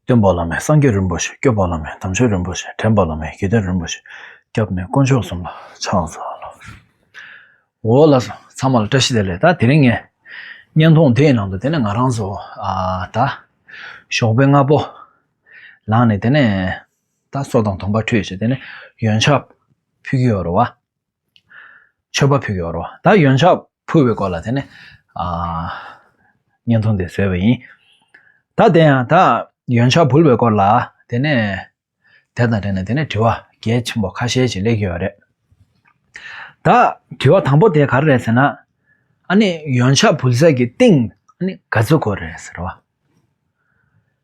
སྟོན་པ་བླ་མས་སངས་རྒྱས་རིན་པོ་ཆེ་སྐྱོབ་པ་བླ་མས་དམ་ཆོས་རིན་པོ་ཆེ་དྲན་པ་བླ་མས་དགེ་ལྡན་རིན་པོ་ཆེ་སྐྱབས་ནས་དཀོན་མཆོག་གསུམ་ལ་ཕྱག་འཚལ་ལོ། འོ་ལགས་སོ། ཚང་མ་ལ་བཀྲ་ཤིས་བདེ་ལེགས་ད་དེ་རིང་ངས་བརྙན་ཐུང་དེའི་ནང་དུ་དེ་ནས་ང་རང་ཚོ་ད་ཞོགས་པའི་སྔ་པོ་ལངས་ནས་དེ་ནས་ད་སོ་དང་དུང་པ་ཁྲུས་བྱས་དེ་ནས་ཡོན་ཆབ་ཕུལ་གྱི་ཡོད་རེད་བ། མཆོད་པ་ཕུལ་གྱི་འོར་བ་ད་ཡོན་ཆབ་ཕུལ་བའི་སྐོར་ལ་དེ་ནས་བརྙན་ཐུང་དེ་བཟོས་པ་ཡིན། ད་དེ་ཡང་ད་ཡོན་ཆབ་ཕུལ་བའི་སྐོར་ལ་དེ་ནས་དེ་དང་འབྲེལ་ནས་དེ་ནས་དྲི་བ་གལ་ཆེན་པོ་ཁ་ཤས་ཤིག་སླེབས་ཀྱི་ཡོད་རེད། ད་དྲི་བ་དང་པོ་དེ་ག་རེ་རེད་ཟེར་ན་ཨ་ནི་ཡོན་ཆབ་ཕུལ་ས་ཀྱི་སྟེང་ཨ་ནི་ག་ཚོད་སྐོར་རེད་ཟེར་བ།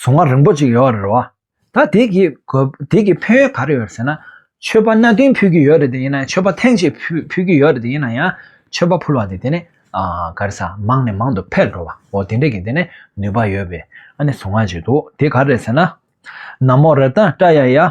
གཟུང་བ་རིང་པོ་ཅིག་ཡོད་རེད་བ། ད་དེ་གི་དེ་གི་ཕན་ཡོད་ག་རེ་ཡོད་ཟེར་ན། ཆོས་པ་གནའ་དེང་ཕུད་ཀྱི་ཡོད་རེད་དེ་ཡིན་ན་ཆོས་པ་ཐེངས་ཤིག་ཕུད་ཀྱི་ཡོད་རེད་དེ་ཡིན་ན་ཡང་ཆོས་པ་ཕུལ་བ་དེ་དེ་ནི་ག་རེ་ས་མང་ནས་མང་དུ་འཕེལ་འགྲོ་བ་འོ་དེ་འདྲ་གི་དེ་ནི་ནུས་པ་ཡོད་པའི་ཨ་ནི་གཟུང་བ་ཅིག་འདུག་དེ་ག་རེ་ཟེར་ན། ན་མོ་རེ་ད་ཀྲ་ཡ་ཡ།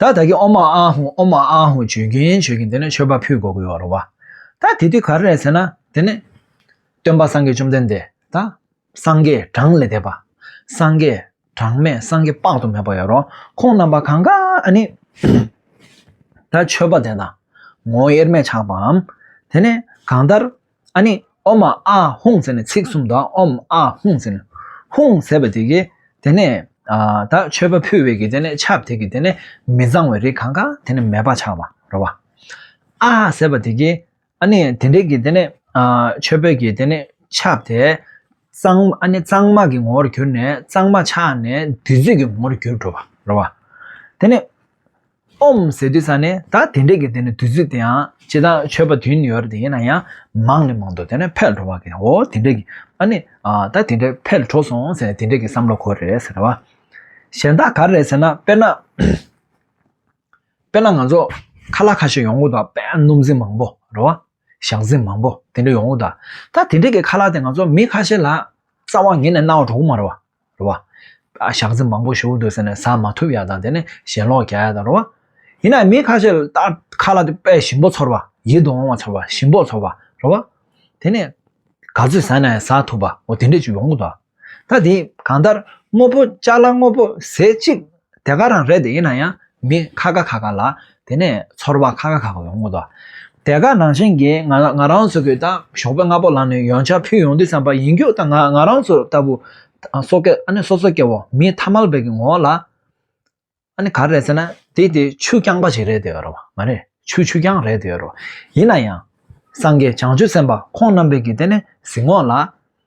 ད་ད་གི་ཨོ་མ་ཨ་ཧུ་ཨོ་མ་ཨ་ཧུ་བྱོས་གིན་བྱོས་གིན་དེ་ནས་མཆོད་པ་ཕུལ་གོ་གི་ཡོད་རོ་བ། ད་དེ་དུས་ག་རེ་རེད་ཟེར་ན་དེ་ནས། སྟོན་པ་སངས་རྒྱས་བཅོམ་ལྡན་འདས་ད། སངས་རྒྱས་གྲངས་ལས་འདས་པ། སངས་རྒྱས་གྲངས་མེད་སངས་རྒྱས་དཔག་ཏུ་མེད་པ་ཡོད་རོ་ཁོང་རྣམ་པ་གང་གཱ་ཨ་ནི། ད་མཆོད་པ་དེ་དང། ངོ་དབྱེར་མེད་ཆགས་པའམ། དེ་ནས་གང་ལྟར། ཨ་ནི་ཨོ་མ་ཨ་ཧུང་ཟེར་ནས་ཚིག་གསུམ་དང་ཨོམ་ཨ་ཧུང་ཟེར་ནས་ཧུང་ཟེར་བ་དེ་གི་དེ་ནས་ད་མཆོད་པ་ཕུལ་བའི་གི་དེ་ནས་ཆབ་དེ་གི་དེ་ནས་མི་གཙང་བའི་རིགས་གང་གང་དེ་ནས་མེ་སྦར་ཆགས་པ་རོ་བ། ཨ་ཧ་ཟེར་བ་དེ་གི་ཨ་ནི་དེ་འདྲའི་གི་དེ་ནས་མཆོད་པའི་གི་དེ་ནས་ཆབ་དེ་གཙང་ཨ་ནི་གཙང་མ་གི་ངོ་བོར་གྱུར་ནས་གཙང་མ་ཆགས་ནས་བདུད་རྩི་གི་ངོ་བོར་གྱུར་འགྲོ་བ་རོ་བ། དེ་ནས། ཨོམ་ཟེར་དུས་ཚང་ནི་ད་དེ་འདྲས་ཀྱི་དེ་ནི་དུས་ཚོད་དེའང་སྤྱི་དང་ཆོས་པ་དུས་ནི་ཡོད་རེད་དེ་ཡིན་ན་ཡང་མང་ནི་མང་འདུག་དེ་ནི་ཕལ་འགྲོ་བ་གི་འོ་དེ་འདྲས་ཀྱི་ཨ་ནི་ད་དེ་འདྲས་ཕལ་འགྲོ་སོང་ཟེར་ནས་དེ་འདྲས་ཀྱི་བསམ་བློ་འཁོར་རེད་ཟེར་བ། གཞན་དག་ག་རེད་ཟེར་ན་དཔེར་ན། དཔེར་ན་ང་ཚོ་ཁ་ལག་ཁ་ཤས་ཡོང་གི་འདུག་དཔེར་ན་སྣུམ་ཟིང་མང་པོ་རེད་བ། ཞག་ཟིང་མང་པོ་དེ་འདྲས་ཡོང་གི་འདུག་ད་དེ་འདྲས་ཀྱི་ཁ་ལག་དེ་ང་ཚོ་མི་ཁ་ཤས་ལ་རྩ་བ་ངེས་ནས་གནང་བ་འགྲོ་གི་མ་རེད་བ། རོ་བ། ཞག་རྩི་མང་པོ་ཞོ་འདོད་ཟེར་ནས་ཟ་མ་ཐུབ་ཡ་དང་དེ་ནས་ཞེན་ལོག་གྱ་ཡ་དང་རོ་བ། ཡིན་ནའི་མི་ཁ་ཤས་ལ་ཁ་ལ་དཔལ་ཞིམ་པོ་ཚོར་བ། ཡིད་དུ་འོང་བ་ཚོར་བ་ཞིམ་པོ་ཚོར་བ་རོ་བ། དེ་ནས། ག་ཚོད་ཟ་ནའི་ཟ་ཐུབ་པ་འོ་དེ་འདྲས་ཅིག་ཡོང་གི་འདུག་ད་དེ་གང་ལྟར་དངོས་པོ་ལྕགས་ལ་དངོས་པོ་ཟས་གཅིག་དེ་ག་རང་རེད་དེ་ཡིན་ན་ཡང་མི་ཁ་ག་ཁ་ག་ལ་དེ་ནས་ཚོར་བ་ཁ་ག་ཁ་ག་ཡོང་གི་འདུག་དེ་ག་ནང་བཞིན་གྱི་ང་ང་རང་ཚོ་གི་དང་ཞོགས་པའི་སྔ་པོ་ལ་ནི་ཡོང་ཆ་ཕུལ་ཡོང་དུས་བསམ་པ་ཡིན་རྒྱུ་དང་ང་ང་རང་ཚོ་ལྟ་བུ་སོ་སྐད་ཨ་ནི་སོ་སོ་སྐད་བོ་མི་ཐ་མལ་པའི་གི་ངོ་ལ་ཨ་ནི་ག་རེད་ཟེར་ན་དེ་དེ་ཆུ་རྐྱང་པ་ཞིག་རེད་དེ་ཡོད་རེད་བ་མ་རེད་ཆུ་ཆུ་རྐྱང་རེད་དེ་ཡོད་རེད་བ་ཡིན་ན་ཡང་སངས་རྒྱས་བྱང་ཆུབ་སེམས་དཔའ་ཁོང་རྣམ་པའི་གི་དེ་ནས་གཟིགས་ངོ་ལ།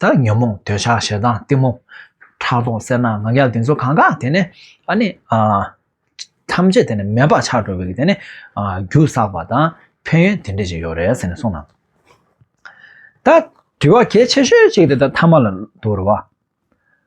དག་ཉོན་མོངས་འདོད་ཆགས་ཞེ་སྡང་གཏི་མུག། ཁྲག་འཐུང་སེར་སྣ་ནག་ཡབ་དེ་ཚོ་གང་གཱ་དེ་ནས་ཨ་ནི་ཨ། ཐམས་ཅད་དེ་ནས་མེ་འབར་ཆགས་འགྲོ་བའི་དེ་ནས་ཨ་རྒྱུ་བསགས་པ་དང་ཕན་ཡོན་དེ་འདྲས་ཅིག་ཡོད་རེད་ཟེར་ནས་གསུངས་ན། ད་དྲི་བ་གལ་ཆེ་ཤོས་གཅིག་དེ་ད་ཐ་མ་ལ་འདུག་རེད་བ།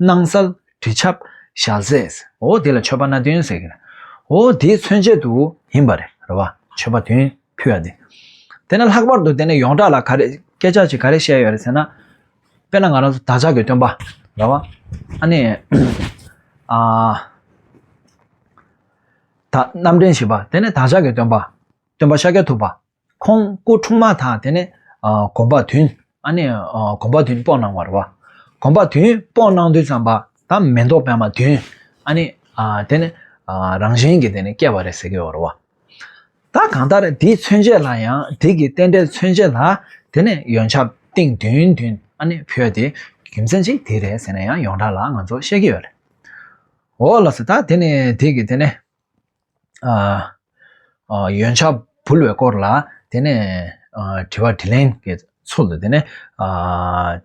སྣང་གསལ། དྲི་ཆབ། ཞལ་ཟས། འོ་དེ་ལ་མཆོད་པ་སྣ་བདུན་ཟེར་གྱི། འོ་དེའི་མཚོན་བྱེད་དུ་ཡིན་པ་རེད་རེད་བ། མཆོད་པ་བདུན་ཕུལ་བ་དེ། དེ་ནས་ལྷག་པར་དུ་དེ་ནས་ཡོངས་གྲགས་ལ་ག་རེ་སྐད་ཆ་ཅིག་ག་རེ་བཤད་ཡོད་རེད་ཟེར་ན། དཔེར་ན་ང་རང་བདག་ཅག་གི་སྟོན་པ་རེད་བ། ཨ་ནི། ཨ། ད་རྣམ་འདྲེན་བྱེད་པ་དེ་ནི་བདག་ཅག་གི་སྟོན་པ། སྟོན་པ་ཤཱཀྱ་ཐུབ་པ། ཁོང་སྐུ་འཁྲུངས་མ་ཐག་དེ་ནས་གོམ་པ་དུས། ཨ་ནི། གོམ་པ་དུས་དཔོག་གནང་བར་བ། གོམ་པ་དུས་དཔོག་གནང་དུས་བརྩམས་པ་ད་མེ་ཏོག་པད་མ་དུས། ཨ་ནི། དེ་ནི། རང་བཞིན་གྱིས་དེ་ནི་སྐྱེ་བ་རེད་ཟེར་གྱི་ཡོད་རེད་བ། ད་གང་ལྟར་དེའི་མཚོན་བྱེད་ལ་ཡང་དེ་གི་རྟེན་འབྲེལ་མཚོན་བྱེད་ལ་དེ་ནི་ཡོན་ཆབ་ཏིང་དུས་དུས་ཨ་ནི་བོད་དེ་རྒྱུ་མཚན་ཅིག་དེ་རེད་ཟེར་ན་ཡང་ཡོངས་གྲགས་ལ་ང་ཚོ་བཤད་ཀྱི་ཡོད་རེད། འོ་ལགས་སོ་ད་དེ་ནི་དེ་གི་དེ་ནི། ཡོན་ཆ་འབུལ་བའི་སྐོར་ལ་དེ་ནས་དྲི་བ་དྲིས་ལན་གྱི་ཚུལ་དུ་དེ་ནས་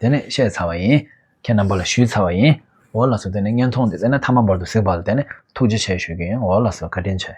དེ་ནས་བཤད་ཚར་བ་ཡིན། ཁྱེད་རྣམ་པ་ལ་ཞུས་ཚར་བ་ཡིན། འོ་ལགས་སོ་དེ་ནས་བརྙན་ཐུང་འདི་བཙལ་ན་མཐའ་མ་འབར་དུ་གཟིགས་པ་ལ་དེ་ནས་ཐུགས་རྗེ་ཆེ་ཞུ་རྒྱུ་ཡིན་འོ་ལགས་སོ་བཀའ་དྲིན་ཆེ།